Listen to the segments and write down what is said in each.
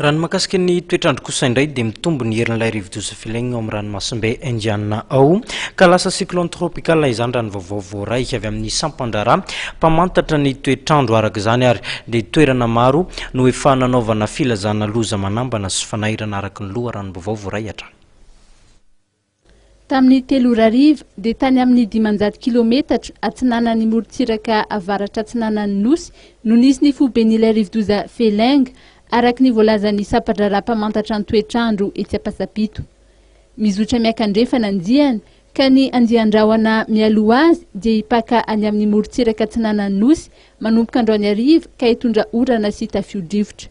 Raha ny mahakasika ny toetr'andro kosa indray dia mitombo ny herin'ilay rivodoza Filaigny ao amin'ny ranomasimbe Indiana ao ka lasa cyclone tropical izany raha ny vaovao voaray avy amin'ny sampan-draharaha mpamantatra ny toetr'andro. Araka izany ary dia toerana maro no efa nanaovana filazana loza manambana sy fanairana araka ny loharanom-baovao voaray hatrany. Tamin'ny telo ora hariva, dia tany amin'ny dimanjato kilometatra atsinanan'ny morontsiraka avaratra-atsinanan'ny Nosy no nisy ny foiben'ilay rivodoza Feeling, araka ny voalazan'ny sampan-draharaha mpamantatra ny toetr'andro etsy Ampasampito. Mizotra miaka-andrefana ny diany, ka ny andian-drahona mialoha azy dia hipaka any amin'ny morontsiraka atsinanan'ny Nosy manomboka androany hariva ka hitondra orana sy tafio-drivotra.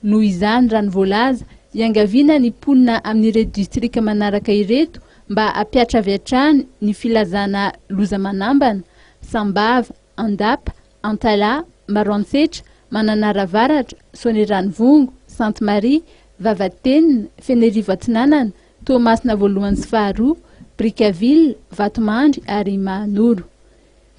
Noho izany, raha ny voalaza, iangaviana ny mponina amin'ireto distrika manaraka ireto mba hampihatra avy hatrany ny filazana loza manambana, Sambava, Andapa, Antalaha, Maroantsetra, Mananara Avaratra, Soanierano-Vongo, Sainte Marie, Vavatenina, Fenerivo Atsinanana, Toamasina Voalohany sy Faharoa, Brickaville, Vatomandry ary Mahanoro.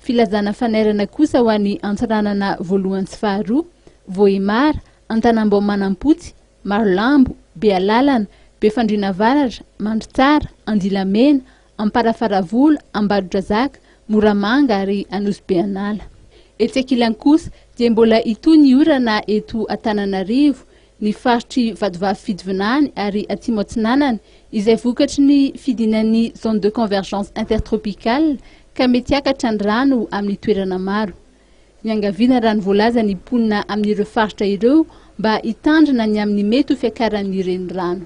Filazana fanairana kosa ho an'ny Antsiranana voalohany sy faharoa, Vohemar, Antanambao Manampotsy, Marolambo, Bealalana, Befandriana Avaratra, Mandritsara, Andilamena, Amparafaravola, Ambadodrazaka, Moramanga ary Anosibe An'ala. Etsy ankilany kosa dia mbola hitohy ny orana eto Antananarivo, ny faritr'i Vatovavy Fidivinany ary Atsimo Atsinanana, izay vokatry ny fidinan'ny Zone de Convergence Intertropicale ka mety hiakatra ny rano amin'ny toerana maro. Niangaviana raha ny voalaza ny mponina amin'ireo faritra ireo mba hitandrina ny amin'ny mety ho fiakaran'ny renirano.